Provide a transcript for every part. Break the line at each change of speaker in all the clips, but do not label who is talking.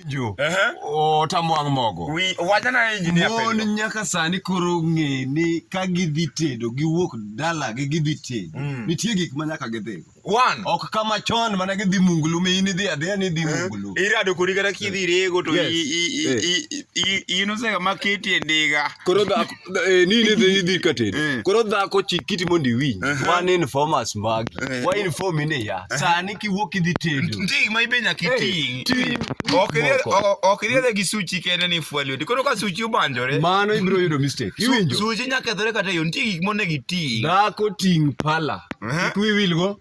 jo otamwang' mogo wachana engineer
mon nyaka sani
koro ng'e ni ka gidhi tedo giwuok dala gi gidhi tedo mm. nitie gik ma nyaka gidhi one ok kama
chon
mana gidhi mungulu mi in idhi adhiya ni idhi eh, mungulu irado kori kata kidhi
rego to inosega ma keti e ndiga koro
Eh, ni ne dhi dhi ka tedo eh. koro dhako chik kiti mondo iwinj man informers magi eh. wa inform ni ya sani kiwuok idhi tedo ndik ma ibe nyaka
iting ok iriere gi suchi kende ni fwa lweti koro ka suchi obanjore mano ibiro yudo
mistake iwinjo suchi nyaka kethore kata
yo nitie gik monego iting dhako ting
pala kik wiwilgo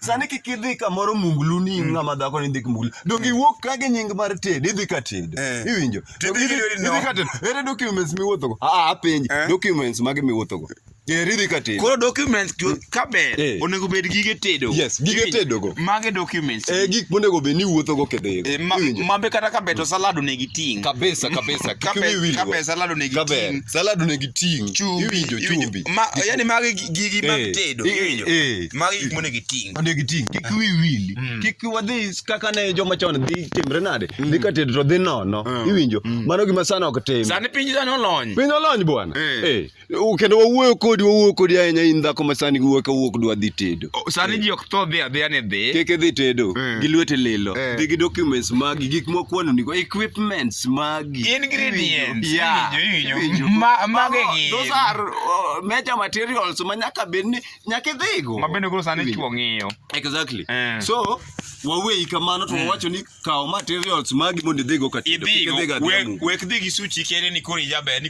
Sani kik idhi kamoro munglu ni mm. ng'ama dhako ni ndik munglu. Donge mm. iwuok ka gi nying mar tedo, idhi ka tedo. Eh. Iwinjo? Idhi ka tedo. Ere documents miwuothogo? Ah, ah apenji. Eh. Documents mage miwuothogo? Geriri ka tedo. Koro documents
ka ber eh. onego bed gige tedo. Yes, gige tedo go.
Mage documents. Eh
gik monego bed ni
wuotho go kedhe. Eh, Mambe kata ka
beto salad onego iting. Kabisa kabisa.
Kiwi wili. Kabe
salad onego iting. Salad onego iting.
Iwinjo chumbi. Ma yani mage
gigi mag eh, tedo. Iwinjo. magi gik monego iting onego iting kik ah. wi
wili mm. kik wadhi kaka ne joma chon dhi timre nade mm. dhi ka tedo to dhi nono ah. iwinjo mm. mano gima sana ok tim sani piny sani olony
piny olony bwana
eh. Eh. kendo wawuoyo kodi wawuoyo kodi ahinya in dhako ma sani giwuoyo ka wuok dwa dhi tedo oh, sani eh. ji ok tho
dhi adhiya ni dhi kik idhi tedo
gi lwete lilo dhi gi documents magi gik mokwano nigo equipments magi ingredients yeah. magi gi
those are uh,
major materials ma nyaka bed ni nyaka idhigo ma bende koro sani Iwinjo. chuo
ng'iyo exactly Eh.
so waweyi kamano to wawacho ni kaw materials
magi
mondo
idhigo
ka
tedo. Kik idhigo
idhiga
we-
adhiambu.
wek dhi
gi
suchi kere
ni
koro
ijaber
ni